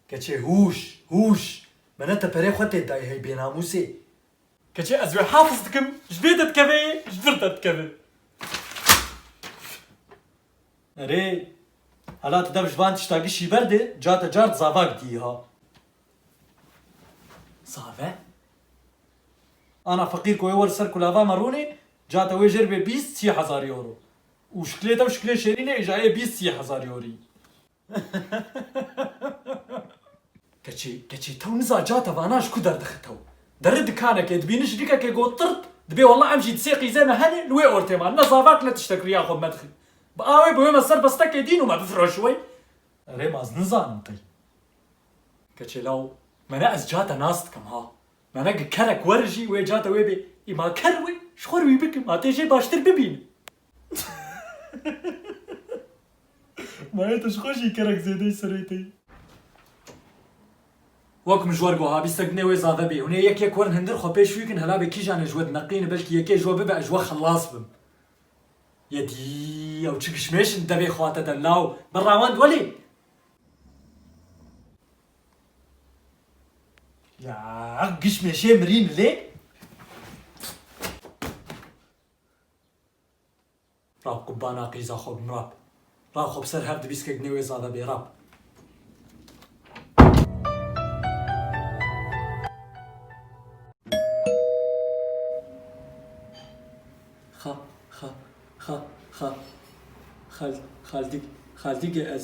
Keçê hûş! Hûş! Me ne te perê xwe tê dayî hey bênamûsê! Keçê ez wê hafiz dikim, ji vê de dikeve yê ji vir de dikeve. Erê, hela tu dev ji van tişta gişî berdê, ca te car di zava gidiyî ha. Zave? Ana feqîr ku wê wer ser kulava me rûnê, ca te wê jêr bê bîst sî hezar euro. Û şikilê te û şikilê Şêrînê îjayê bîst sî hezar yorî. Keçî, keçî tew niza ca te vana ji ku derdixe tew. Derri dikanekê dibîni jirikekê got tirt, dibê walla em jî di sê qîzê me henê li wê ortê man, ne zavak ne tiştek riya xwe bi me dixî. Bi awê bi wê me ser bestekê dîn û me bifiroşî wey. Erê ma ez nizanim qey. Keçê law, mene ez ca te nas dikim ha. Me ne ki kerek werijî wê ca de wê bê î ma ker wê ji xwe re wî bikim ma tê jê baştir bibînim. Ma yê tu ji xwe jî kerek zêde yî serê te yî. Wek mijwer goha bî sek binê wê zave bê hûn ê yek yek werin hindir xwe pêş wî kin hela bê kîjan ê ji we dineqîne belkî yekê ji we bibe ez ji we xelas bim. Yê dî ew çi kişmêş in di devê xwe te de law bi rewend welê. Ya giş meşê mirîn lê. Rab qubana qîza xwe bim Rab. Rab xwe bi ser her dibîskek nê wê zade bê Rab. Xa xa xa xa xal xaldik xaldike ez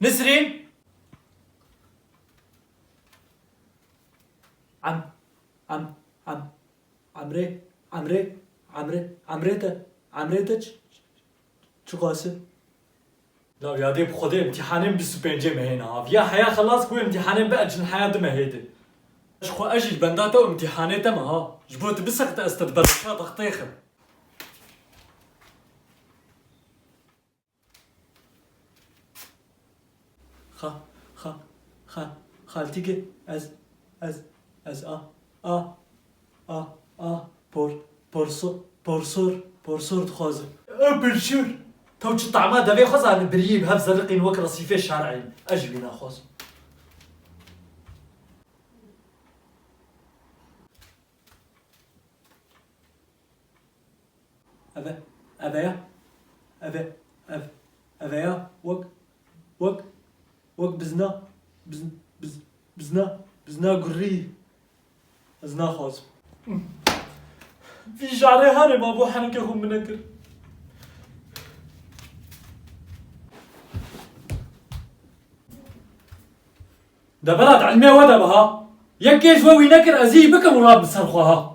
Nisrîn Em Em Em Emrê Emrê Emrê Emrê te Emrê te çiqas e? La yadê bi xwedê îmtîhanên bîst û pêncê me hêne av. Ya heya xelas ku îmtîhanên bi eclin heya di me hê de. Ji xwe ez jî li benda te û îmtîhanê te me ha. Ji bo tu bisexte ez te di bereşa textê xim. Xa, xa, xa, xaltîkê ez, ez, ez a, a, a, a, por, porso, porsor, porsor dixwazim. Ew pirçûr! Taw çi tama devê xwe zanî biriyê bi hev zerriqîn wek resîfê şer'ê ne. Ez jî wî naxwazim. Eve, eveya, eve, ev, eveya, wek, wek, wek bizna, biz, biz, bizna, bizna gurrî, ez naxwazim. Vî jarê herê ma bo henekê xwe min nekir. Deberat ilmê we de be ha. Yek kêj we wî nekir ez jî bikim rab bi ser xwe ha.